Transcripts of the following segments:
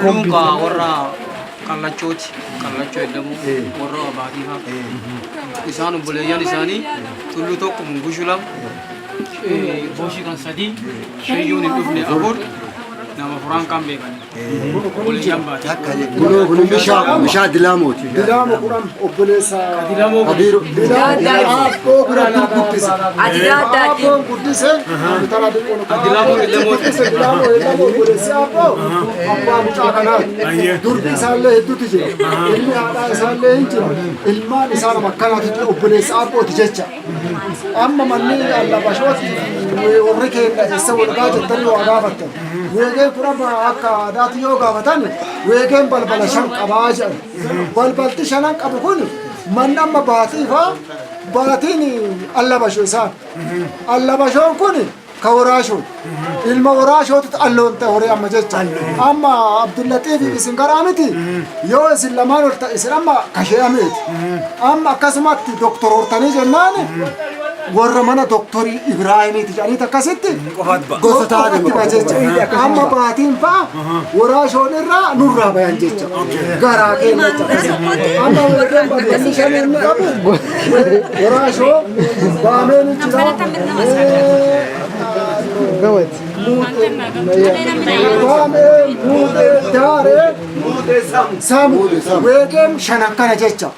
Luunqaa warra kallachooti. Kallachoo jedhamu warra abaatii fa'a. Isaan obboleeyyan isaanii tulluu tokko mungushu lama. Boshii kan sadii. Shayyuun hin dhufne afur. Nama furaan kan beekan. Obboleeyyan baati. Kunoo kun bishaa dilaamooti. obboleessa Kadiir Aabboo biratti guddise. Aabboo guddise intala xiqqoo nu guddise Dilaamoo Eellamoo obboleessi Aabboo abbaa mucaa kanaa durbi isaallee hedduutu jira ilmi haadhaa isaallee hin jiru ilmaan isaa nama akkanaatu jira obboleessa Aabbooti jecha amma manni allabashooti warri keenya eessa walgaa jettanii waa gaafattan weegeen kun amma akka aadaatti yoo gaafatan weegeen balbala shan qabaa jedhan Balbalti shanan qabu kun manni amma baatiifa baatiin allabasho isaa. Allabashoon kun ka waraashoo. Ilma waraashootu alloon ta'e horii amma jecha. Amma Abdullaxiif isin garaa miti yoo isin lamaan ol ta'e isin amma kashee'ameeti. Amma akkasumatti doktor hortanii jennaan warra mana doktorii Ibraahimiiti jedhaniiti akkasitti gosa taa'anitti ba'a jecha. Amma baatiin fa'a waraashoon irraa nurraa bayan jecha. Garaa keenya jecha. Amma warreen balballi shan inni qabu waraashoo baamee ni jira. Baamee muutee daaree. Saamu weegeen shan akkana jecha.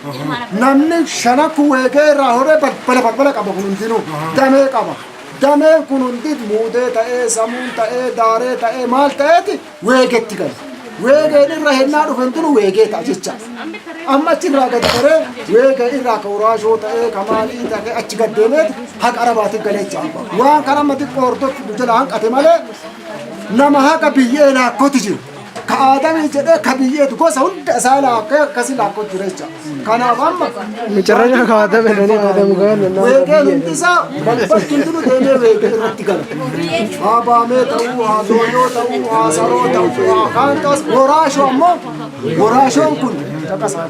Namni shanakku weegee irraa horee balbala balbala qaba kun hundinuu damee qaba. Dameen kun hundi muudee ta'ee samuun ta'ee daaree ta'ee maal ta'eeti weegetti gala. Weegeen irra hennaa dhufe hundinuu weegee ta'a jecha. Amma achi irraa gad baree weegee irraa ka uraashoo ta'ee ka maalii ta'ee achi gad deemeeti haqa arabaatiif galee jecha. Waan kana amma xiqqoo hordoftu jala hanqate malee nama haqa biyyee laakkoti jiru. ka aadamii jedhee ka biyyeetu gosa hunda isaa laakkee akkasi laakkoo jira jecha kanaaf amma Macarrashaa ka aadame nani aadamu gaana naa weegee hundi isaa balbalti hundinu deemee weegee irratti gala haa baamee ta'uu haa dooyoo ta'uu haa saroo ta'uu haa kaantaas woraashoo ammoo woraashoon kun caqasaa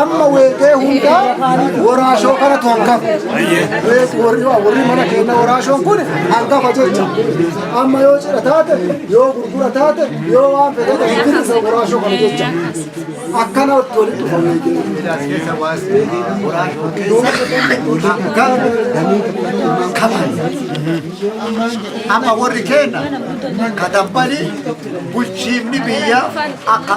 amma weeqee hundaa waraashoo kanatu hangafa. Weeq- warri- Warri mana keenya waraashoon kun hangafa jecha. Amma yoo cidha taate, yoo gurgura taate, yoo waan fedhe ta'e bilisa waraashoo kana jecha. Akkana itti walitti dhufa weeqee. Amma warri keenya katambalii bulchiinni biyyaa akka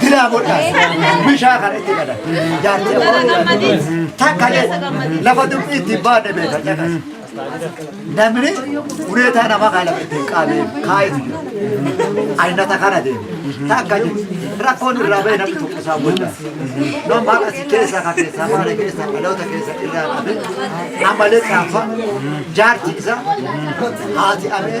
Diraa godhaa. Bishaa kana itti qada. Jaartii takka lafa dubbii itti baadhe beeka caqas. Namni ureetaa nama kana itti hin qaabee kaayetu jira. Aynata kana deema. Takka rakkoon irraa ba'e namni tokko isaa booda. Nama as keessa ka keessa maala keessa dhaloota keessa irraa qabe amalee caafa jaartii isaa haati amee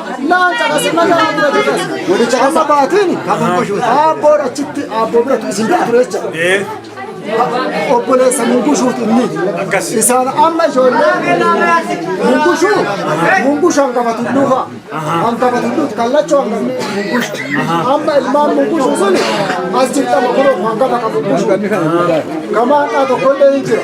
Naan caqase mataa dura caqase. Amma baatiin aabboo achitti aabboo biratu isin bira ture jecha. Obboleessa mungushuut inni. Isaan amma ijoollee mungushuu mungushu hangafa tulluu fa'a. Hangafa tulluuti kallachoo hangafa mungushu. Amma ilmaan mungushu suni as jirtama kunoo hangafa kan mungushu. Kamaadhaa tokkollee hin jira.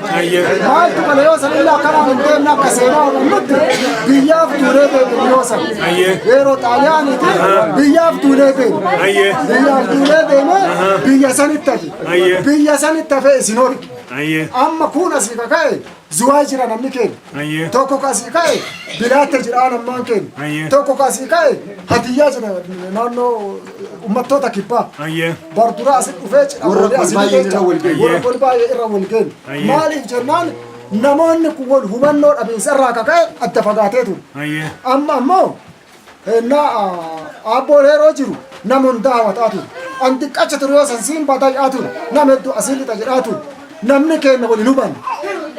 Maaltu mala yoo san illee akkanaan hin deemne akka seenaa hubnutti biyyaaf duulee deemne yoo san. Yeroo xaaliyaaniiti biyyaaf duulee deemne. Biyyaaf duulee deemne biyya sanitti hafe. Biyya sanitti hafe isin hori. Amma kuun asii kaka'e zuwaa jira namni keenya. Ayyee. Tokko kasii ka'e bilaatta jedhaan ammaan keenya. Ayyee. Tokko kasii ka'e hatiyyaa jedha naannoo uummattoota kibbaa. Ayyee. Barduraa asi dhufee cidha Warra wal asii baay'een irra wal ga'e. Warra kun baay'ee irra wal ga'e. Ayyee. Maaliif jennaan namoonni kun wal hubannoo dhabiinsa irraa akka ka'e adda fagaatee ture. Ayyee. Amma ammoo Hennaa Aabboon Heeroo jiru nama hundaa hawataa ture. An xiqqacha ture yoo san siin batay'aa ture. Nama hedduu asiin lixa jedhaa ture. Namni keenna waliin hubanne.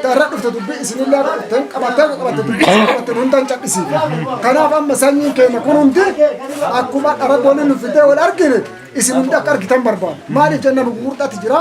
Dharra dhufte dubbii isinillee akka dhufte hin qabatte akka qabatte dubbii isin qabatte nu hundan cadhisiifne. Kanaaf amma sanyiin keenna kun hundi akkuma dhara boolii nu fidee wal argine isin hundi akka argitan barbaada. Maaliif jenna nu gugurdaatti jira.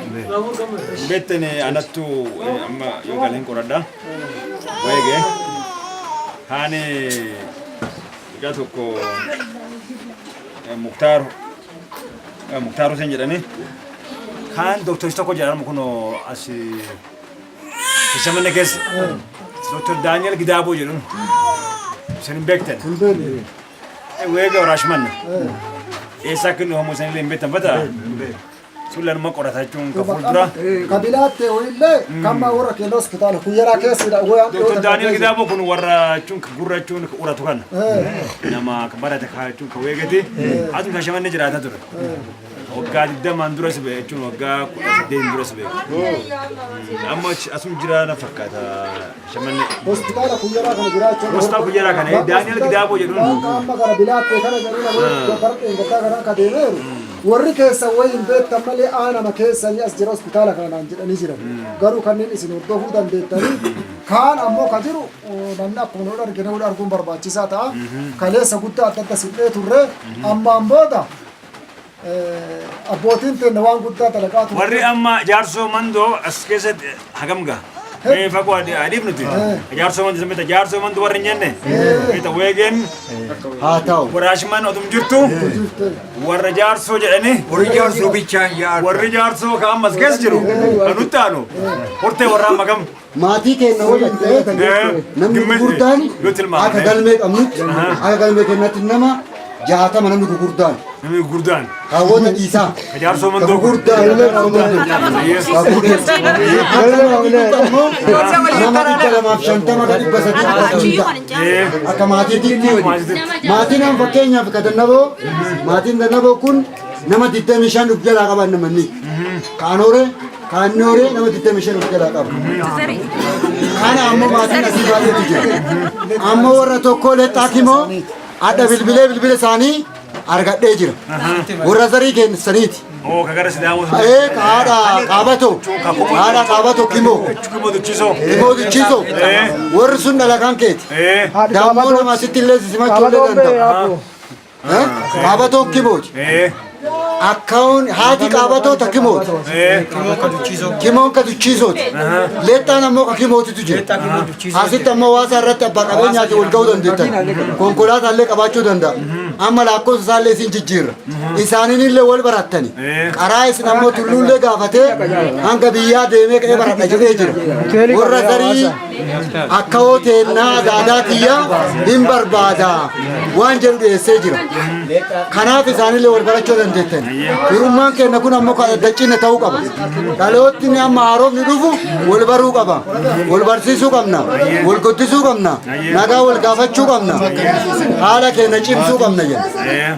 Betten anattu amma yoo galeen qoradha. Weege haani guyyaa tokko Muktaar Muktaar Huseen jedhani kaan dooktorsi tokko jedhamu kun as Shamanne keessa dooktor Daani'el Gidaaboo jedhamu. Isin hin beektan. Weega waraashmanna. Eessaa kennu homo isin illee hin beektan fataa. Sulla nama qorata jechuun kan fuuldura. Kabilaa ta'e illee kamma warra keenya hospitaala kuyyaraa keessidha. Doktor Daani'el Gidaamo kun warra jechuun gurra jechuun uratu kana. Nama kan barate kaa jechuun kan weegate asuma shashamannee jiraata ture. Waggaa digdamaan dura si ba'e jechuun waggaa kudha saddeetiin dura si ba'e. Amma asuma jiraana fakkaata. Hospitaala Kuyyaraa kana jiraachuu. Hospitaala Kuyyaraa kana, eh, Daani'el Gidaaboo jedhuun. Waan qaama gara bilaattee kana jedhuu nama Ah. barqeen gaddaa kanaa ka deemeeru. Warri keessan wayii hin beektan malee aanama keessanii as jira hospitaala kana naan jedhanii jiran. Garuu kanneen isin hordofuu dandeettanii kaan ammoo ka jiru eh, namni akkuma nu argine wal arguun barbaachisaa ta'a. Kaleessa guddaa adda adda siqnee turre ammaan booda Abbootiin teenna waan guddaa dalagaa turan. Warri amma jaarsoo mandoo as keessatti hagam gaha? Mee fagoo adi- adiif nuti. Jaarsoo mandoo samita jaarsoo mandoo warri hin jenne. Mita weegeen Haa ta'u. waraashman otum jirtu warra jaarsoo jedhanii Warri jaarsoo bichaan yaa. warri jaarsoo ka ammas keessa jiru kan nutti aanu hortee warraa magam. maatii keenya waliin ta'ee namni gurguddaan akka galmee qabnutti akka galmee keenyatti nama jaatama namni gurguddaan. Namni gurguddaan. Kaawwata dhiisaa. Ka jaarsoo mandoo. Gurguddaan illee kaawwata dhiisaa. Nama dhibba lamaaf shantama ka dhibba sadii dhiisaa. Akka maatiitti maatiin amma fakkeenyaaf ka dannaboo maatiin dannaboo kun Nama 25 of jalaa qaban namanni. Kaan horee, kaan inni horee nama 25 of jalaa qaba. Kana ammoo maatiin asii baay'eetu jira. Amma warra tokko lexxaa kimoo adda bilbilee bilbila isaanii argadhee jira. Warra zarii keessaniiti. Oo ka gara sidaamoo sun. Ee haadha qaabatoo, haadha qaabatoo kimoo, Kumoo duchiisoo. kimoo duchiisoo. Warri sun dhalakaan keeti. Ee. Dammoo nama asitti illee simachuu illee danda'a. Qaabatoo kimooti. Akkaawun haati qaabatoo ta kimooti. Kimoon ka duchiisooti. Leexxaan ammoo ka kimootitu jira. Asitti ammoo waasaa irratti abbaa qabeenyaatiin wal ga'uu dandeettan. Konkolaataa illee qabaachuu danda'a. Amma lakkoofsa isaa illee isin jijjiirra. Isaaniin illee wal barattani. Qaraa isin ammoo tulluullee gaafatee hanga biyyaa deemee ka'ee baradha jedhee jira. Warra garii akkawoo teennaa adaadaa kiyya hin barbaada waan jedhu dhiyeessee jira. Kanaaf isaanillee wal barachuu dandeettan. Firummaan keenya kun ammoo kan addachiina ta'uu qaba. Dhalootni amma haarofni dhufu wal baruu qaba. Wal barsiisuu qabna. Wal guddisuu qabna. Nagaa wal gaafachuu qabna. Haala keenya cimsuu qabna jenna.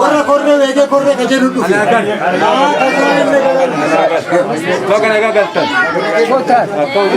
Warra korree beekee korree ka jedhu dhufe. Bakka nagaa galtan.